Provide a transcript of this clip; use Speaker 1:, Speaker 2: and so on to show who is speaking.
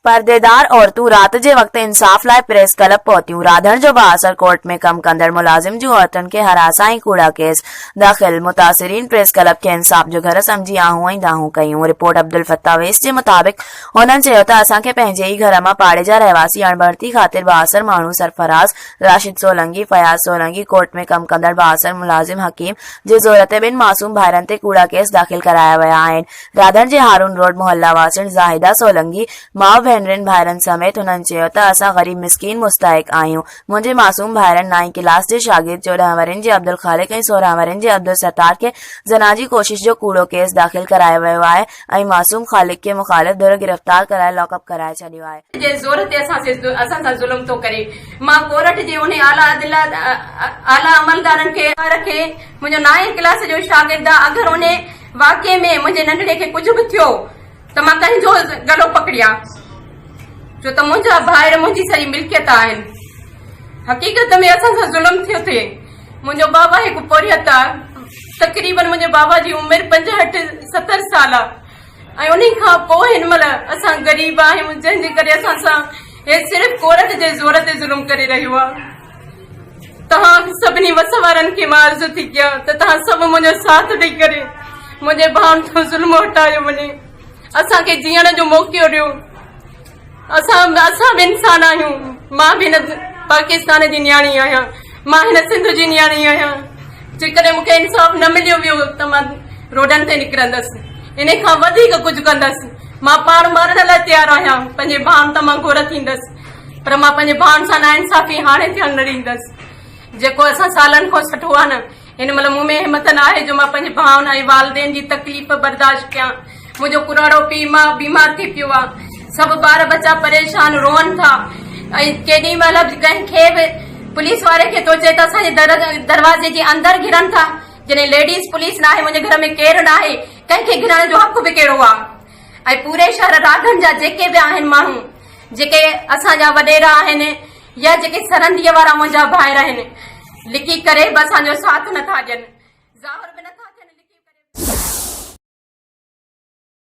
Speaker 1: پرديدار عورتون رات جي وقت انصاف لاء پريس ڪلب پهتيون، راڌڻ جو بااثر ڪورٽ ۾ ڪم ڪندڙ ملازم جون عورتن کي هراسان ۽ ڪوڙا ڪيس داخل، متاثرين پريس ڪلب کي انصاف جو گهر سمجهي آهون ۽ دانهون ڪيون، رپورٽ عبدالفتاح ويس جي مطابق هنن چيو ته اسان کي پنهنجي ئي گهر مان پاڙي جا رهواسي اڻڀرتي خاطر بااثر ماڻهو سرفراز، راشد سولنگي، فياض سولنگي، ڪورٽ ۾ ڪم ڪندڙ بااثر ملازم حڪيم جي زور تي ٻن معصوم ڀائرن تي ڪوڙا ڪيس داخل ڪرايا ويا آهن، دادڻ جي هارون روڊ محلا واسڻ زاهده سولنگي ماء ڀينرين ڀائرن سميت هنن چيو ته اسان غريب مسڪين مستحق آهيون منهنجي معصوم ڀائرن نائين ڪلاس جي شاگرد چوڏهن ورهين جي عبدالخالق ۽ سورهن ورهين جي عبدالستار کي زنا جي ڪوشش جو ڪوڙو ڪيس داخل ڪرايو ويو آهي ۽ معصوم خالق کي مخالف ڌر گرفتار ڪرائي لاڪ اپ ڪرائي ڇڏيو آهي. جي زور تي اسان اسان
Speaker 2: سان ظلم ٿو ڪري مان ڪورٽ جي انهي اعليٰ عدل اعليٰ عملدارن کي رکي منهنجو نائين ڪلاس جو شاگرد آ اگر انهي واقعي ۾ منهنجي ننڍڙي کي ڪجهه به ٿيو ته مان ڪنهن جو گلو پڪڙيان ڇو ته منهنجا ڀائر منهنجي سڄي ملڪيت آهن حقيقت ۾ اسان سان ظلم ٿيو ٿي منهنجو بابا هڪ پورهيت آهي تقريبن منهنجي بابا جي عمر پنجهٺ ستر سال آهي ۽ ان کان پوء هن مهل اسان غريب آهيون جنهن جي ڪري اسان سان هي صرف عورت جي زور تي ظلم ڪري رهيو آهي توهان سڀني وس وارن کي مان عرض ٿي ڪيان ته توهان سڀ منهنجو ساٿ ڏئي ڪري منهنجي ڀائن تان ظلم هٽايو وڃي اسان کي جيئڻ جو موقعو ڏيو اسان به اسان به انسان آهيون مان به هن پاڪستان جي نياڻي آهيان مان هن سنڌ جي نياڻي آهيان جيڪڏهن مون کي انصاف نه مليو ويو ته مان روڊن تي نڪرندس ان کان وڌيڪ ڪجهه ڪندس مان پاڻ مارڻ لاء تيار آهيان پنهنجي ڀائن تان مان گهر ٿيندس پر مان پنهنجي ڀائن سان ناانصافي هاڻي ٿيڻ نه ڏيندس جيڪو اسان سالن کان سٺو آهي نه هن مهل مون ۾ همٿ نه آهي جو مان پنهنجي ڀائن ۽ والدين جي تڪليف برداشت ڪيان منهنجو ڪراڙو پي ماء بيمار ٿي پيو آ سڀ ٻار ٻچا پريشان روئن ٿا ۽ ڪيڏي مهل به ڪنهن کي به پوليس واري کي ٿو چئي ته اسان جي در دروازي جي اندر گهرن ٿا جڏهن ليڊيز پوليس ناهي منهنجي گهر ۾ ڪير ناهي ڪنهن کي گهرائڻ جو حق به ڪهڙو آ ۽ پوري شهر راڳن جا جيڪي به آهن ماڻهو جيڪي اسان جا وڏيرا آهن يا جيڪي سرنديء وارا منهنجا ڀائر آهن لڪي ڪري به اسان جو ساٿ نٿا ڏين ظاهر به نٿا ٿين لڪي ڪري به.